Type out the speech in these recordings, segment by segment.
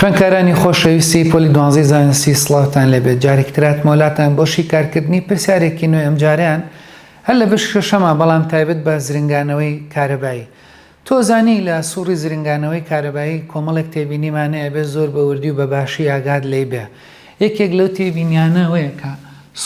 خوێندکارانی خۆشەویستی پۆلی دوانزەی زانستی سڵاوتان لێبێت جارێکی تر هاتمەوە لاتان بۆ شیکارکردنی پرسیارێکی نوێ ئەمجارەیان هەر لە بەشی شەشەمە بەڵام تایبەت بە زرنگانەوەی کارەبایی تۆزانی لە سوڕی زرنگانەوەی کارەبایی کۆمەڵێک تێبینیمان هەیە بێ زۆر بە وردی و بە باشی ئاگات لێی بێ یەکێک لەو تێبینیانە ئەوەیە کە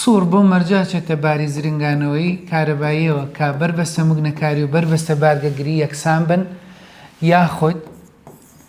سوڕ بۆ مەرجا چێتە باری زرنگانەوەی کارەباییەوە کە بەربەستە مگنەکاری و بەربەستە بارگەگری یەکسان بن یاخود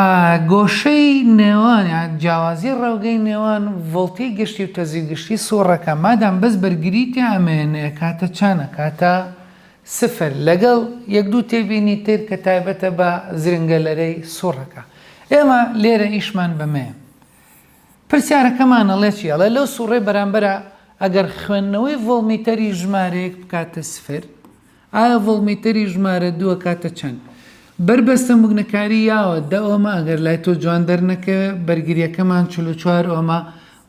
ە، گۆشەی نێوان یان جیاوازی ڕێوگەی نێوان ڤۆڵتی گشتی و تەزوی گشتی سوڕەکە مادام بەس بەرگری تێ ئەمێنێ ئەکاتە چەن؟ ئەکاتە سفر لەگەڵ یەک دوو تێبینی تر کە تایبەتە بە زرنگەلەرەی سوڕەکە ئێمە لێرە ئیشمان بەمەیە پرسیارەکەمان ئەڵێ چی ئەڵێ لەو سوڕەی بەرامبەرا ئەگەر خوێندنەوەی ڤۆڵمیتەری ژمارەیەک بکاتە سفر ئایا ڤۆڵمیتەری ژمارە دووە کاتە چەند؟ بەر بەستەم بوگنەکاری یاوە دە ئۆمە ئەگەر لای تۆ جوان دەرنەکەوێ بەرگریەکەمان چل و چوار ئۆمە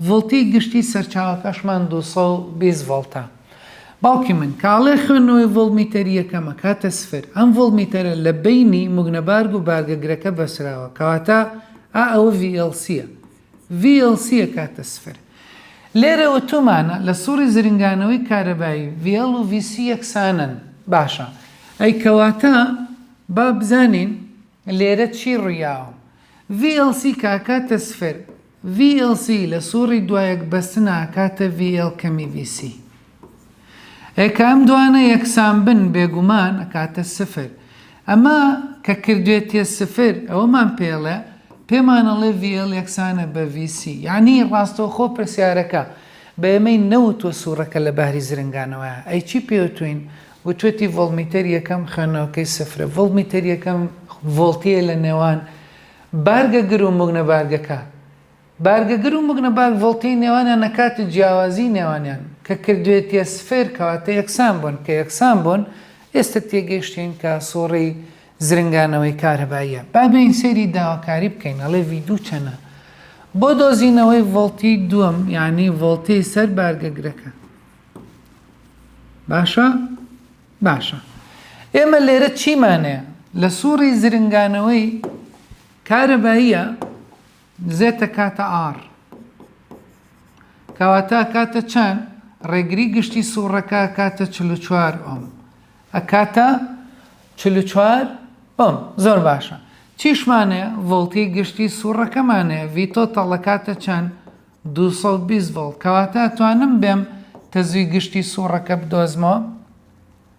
ڤۆڵتی گشتی سەرچاوەکەشمان دوو سەد و بیست ڤۆڵتە باوکی من کاڵێ خوێندنەوەی ڤۆڵمیتەری یەکەم ئەکاتە سفر ئەم ڤۆڵمیتەرە لە بەینی موگنەبارگ و بارگەگرەکە بەسراوە کەواتە ئا ئەوە ڤی ئێڵ سیە VLC ئەکاتە سفر. لێرە ئۆتۆمانە لە سوڕی زرنگانەوەی کارەبایی، VL و VC یەکسانن. باشە ئەی کەواتە با بزانین لێرە چی ڕویاوە. VLC کە ئەکاتە سفر، VLC لە سوڕی دوایەک بەستنە ئەکاتە VL کەمی VC. ئێ کە ئەم دوانە یەکسان بن بێگومان ئەکاتە سفر ئەمە کە کردوێتیە سفر ئەوەمان پێڵێ پێمان ئەڵێ VL یەکسانە بە VC یعنی ڕاستەوخۆ پرسیارەکە بە ئێمەی نەوتوە سوڕەکە لە بەهری زرنگانەوەیە ئەی چی پێوتوین وتوێتی ڤۆڵمیتەر یەکەم خوێندنەوەکەی سفرە ڤۆڵمیتەر یەکەم ڤۆڵتیە لە نێوان بارگە گر و موگنە بارگەکە بارگەگر و مگنباگ ڤۆڵتەی نێوانیان لە کاتی جیاوازیی نێوانیان، کە کردوێتییە سفر، کەواتە یەکسان بوون، کە یەکسان بوون، ئێستە تێگەیشتین کە سووڕی زرنگانەوەی کارەباییە. با بێین سەیری داواکاری بکەین، ئەڵێ ڤی دوو چەنە؟ بۆ دۆزینەوەی ڤۆڵتی دووەم، یانی ڤۆڵتی سەر بارگەگرەکە. باشە؟ باشە. ئێمە لێرە چیمان هەیە؟ لە سووڕی زرنگانەوەی کارەباییە، زێت ئەکاتە ئاڕ. کەواتە ئەکاتە چەند؟ ڕێگری گشتی سووڕەکە ئەکاتە چل و چوار ئۆم. ئەکاتە چل و چوار ئۆم. زۆر باشە. چیشمانێ ڤۆڵتی گشتی سووڕەکەمانێ ڤی تۆتەڵ ئەکاتە چەند؟ دوو سەد و بیست ڤۆڵت. کەواتە ئەتوانم بێم تەزووی گشتی سووڕەکە بدۆزمەوە؟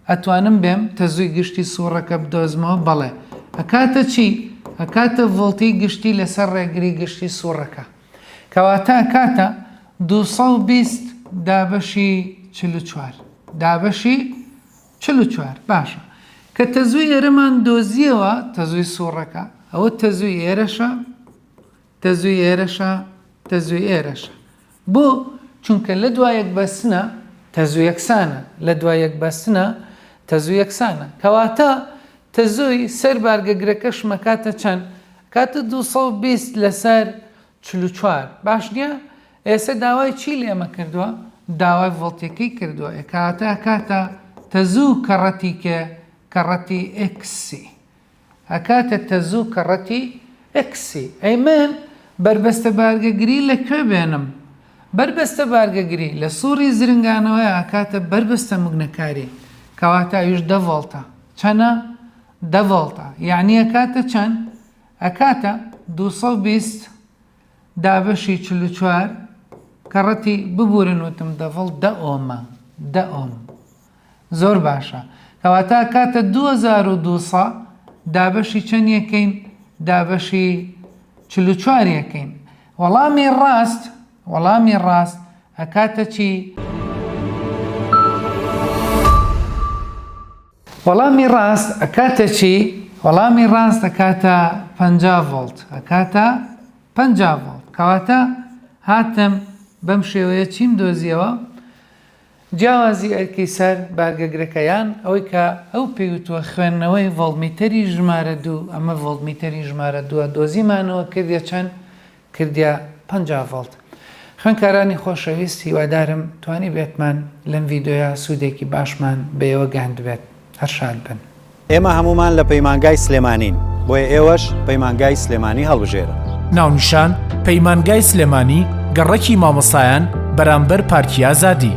ئەتوانم بێم تەزوی گشتی سوڕەکە بدۆزمەوە بەڵێ ئەکاتە چی ئەکاتە ڤۆڵتی گشتی لەسەر ڕێگری گشتی سوڕەکە کەواتە ئەکاتە دوو سەد و بیست دابەشی چل و چوار دابەشی چل و چوار باشە کە تەزوی ئێرەمان دۆزیەوە تەزوی سوڕەکە ئەوە تەزوی ئێرەشە تەزووی ئێرەشە تەزووی ئێرەشە بۆ چونکە لە دوا یەک بەستنە تەزوو یەکسانە لە دوا یەک بەستنە تەزوو یەکسانە کەواتە تەزووی سەر بارگەگرەکەش مەکاتە چەند کاتە 220 لەسەر 44 باش نیە ئێستا داوای چی لێمە کردووە داوای ڤڵتێکی کردووە ئەکاتە کاتە تەزوو کەڕەتی کێ کەڕەتی ئکسی ئەکاتە تەزوو کە ڕەتی ئێکسی. ئەی من بەربەستە بارگەگری لە کوێ بێنم؟ بەربەستە بارگەگری لە سوڕی زرنگانەوەیە ئەکاتە بەربەستە مگنەکاری کەواتە ئەویش دە ڤۆڵتە. چەنە؟ دە ڤۆڵتە. یەعنی ئەکاتە چەند؟ ئەکاتە دوو سەد و بیست دابەشی چل و چوار کە ڕەتی ببورن وتم دە ڤۆڵت دە ئۆمە. دە ئۆم. زۆر باشە کەواتە کاتە دوو هەزار و دوو سە دابەشی چەند یەکەین دابەشی چل و چوار یەکەین وەڵامی ڕاست وەڵامی ڕاست ئەکاتە چی وەڵامی ڕاست ئەکاتە چی وەڵامی ڕاست ئەکاتە پ ڤۆلت ئەکاتە پ ڤۆلت کەواتە هاتم بەم شێوەیە چیم دۆزیەوە جیاوازی ئەرکی سەر بە گەگرەکە یان ئەوەی کە ئەو پێی وتووە خوێندنەوەی ڤۆڵتمیتەری ژمارە دوو، ئەمە ڤۆڵتمیتەری ژمارە دووە، دۆزیمانەوە کردیە چەند؟ کردیە پەنجا ڤۆڵت. خوێندکارانی خۆشەویست هیوادارم توانیبێتمان لەم ڤیدیۆیە سوودێکی باشمان بەیەوە گەیاندبێت. هەر شاد بن. ئێمە هەموومان لە پەیمانگای سلێمانین، بۆیە ئێوەش پەیمانگای سلێمانی هەڵبژێرن. ناونیشان، پەیمانگای سلێمانی، گەڕەکی مامۆستایان بەرامبەر پارکی ئازادی.